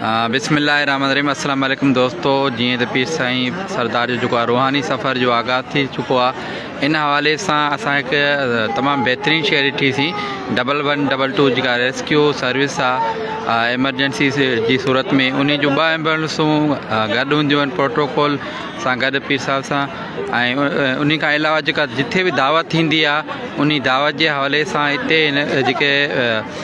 بسم الله الرحمن الرحيم السلام عليڪم دوستو جيئن ته پير سائين سردار جو جيڪو روحاني سفر جو آغاز ٿي چڪو آ ان حوالي سان اسان هڪ تمام بهترين شهر ڏٺي سي ڊبل ون ڊبل ٽو جيڪا ريسڪيو سروس آ ايمرجنسي جي صورت ۾ ان جو ٻه ايمبولنسون گڏ هونديون آهن پروٽوڪول سان گڏ پير صاحب سان ۽ ان کان علاوه جيڪا جتي به دعوت ٿيندي آ ان دعوت جي حوالي سان هتي جيڪي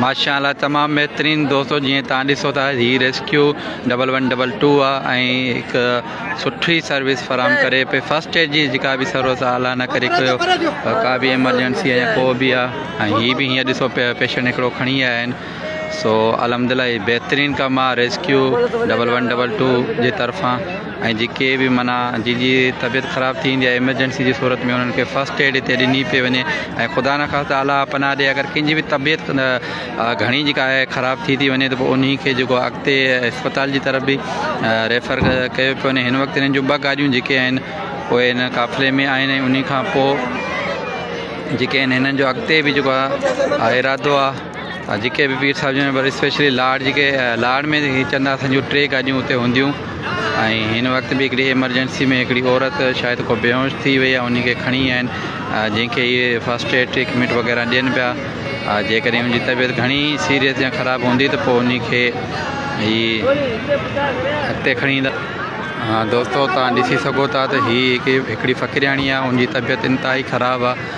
ماشاء الله تمام بهترين دوستو جي تان ڏسو ٿا هي rescue double one double two آ هڪ سٺي سروس فراهم ڪري پي فرسٽ ايڊ جي جيڪا به سروس آ الا نه ڪري ڪيو ڪا به ايمرجنسي آ ڪو به آ هي به هي ڏسو پيشنٽ هڪڙو کڻي آيا آهن سو الحمد لله هي بهترين ڪم آ rescue double one double two جي طرفان ۽ جيڪي به منا جي جي طبيعت خراب ٿي ويندي آهي ايمرجنسي جي صورت ۾ انهن کي فرسٽ ايڊ هتي ڏني پئي وڃي ۽ خدا نه خاص اعليٰ پناهه ڏي اگر ڪنهن جي به طبيعت گهڻي جيڪا آهي خراب ٿي ٿي وڃي ته پوء انهي کي جيڪو اڳتي اسپتال جي طرف به ريفر ڪيو پيو وڃي هن وقت هنن جون ٻه گاڏيون جيڪي آهن اهي هن قافلي ۾ آهن ۽ انهي کان پوء جيڪي آهن هنن جو اڳتي به جيڪو آهي ارادو آهي جيڪي به پير صاحب جن اسپيشلي لاڙ جيڪي لاڙ ۾ چند آسن جون ٽي گاڏيون اتي هونديون ۽ هن وقت به هڪڙي ايمرجنسي ۾ هڪڙي عورت شايد کو بيهوش ٿي وئي ان کي کڻي آيا آهن جنهن کي اهي فرسٽ ايڊ ٽريٽمينٽ وغيرہ ڏين پيا جيڪڏهن ان جي طبيعت گهڻي سيريس يا خراب هوندي ته پوء ان کي هي اڳتي کڻي ايندا دوستو تان ڏسي سگهو ٿا ته هي هڪڙي فقيرياڻي آهي ان جي طبيعت انتهائي خراب آهي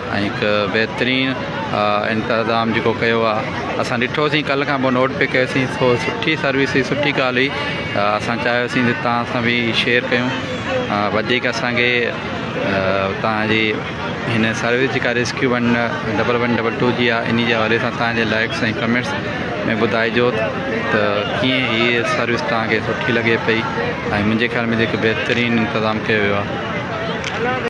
۽ هڪ بهترين انتظام جيڪو ڪيو آهي اسان ڏٺوسين ڪلهه کان پوء نوٽ به ڪيوسين سو سٺي سروس هئي سٺي ڳالهه هئي اسان چاهيوسين ته تان سان به شيئر ڪيون وڌيڪ اسانکي تان جي هن سروس جيڪا rescue one double one double two جي آهي ان جي حوالي سان تان جي لائڪس ۽ ڪمينٽس ۾ ٻڌائجو ته ڪيئن هيء سروس تان کي سٺي لڳي پئي ۽ منهنجي خيال ۾ هڪ بهترين انتظام ڪيو ويو آهي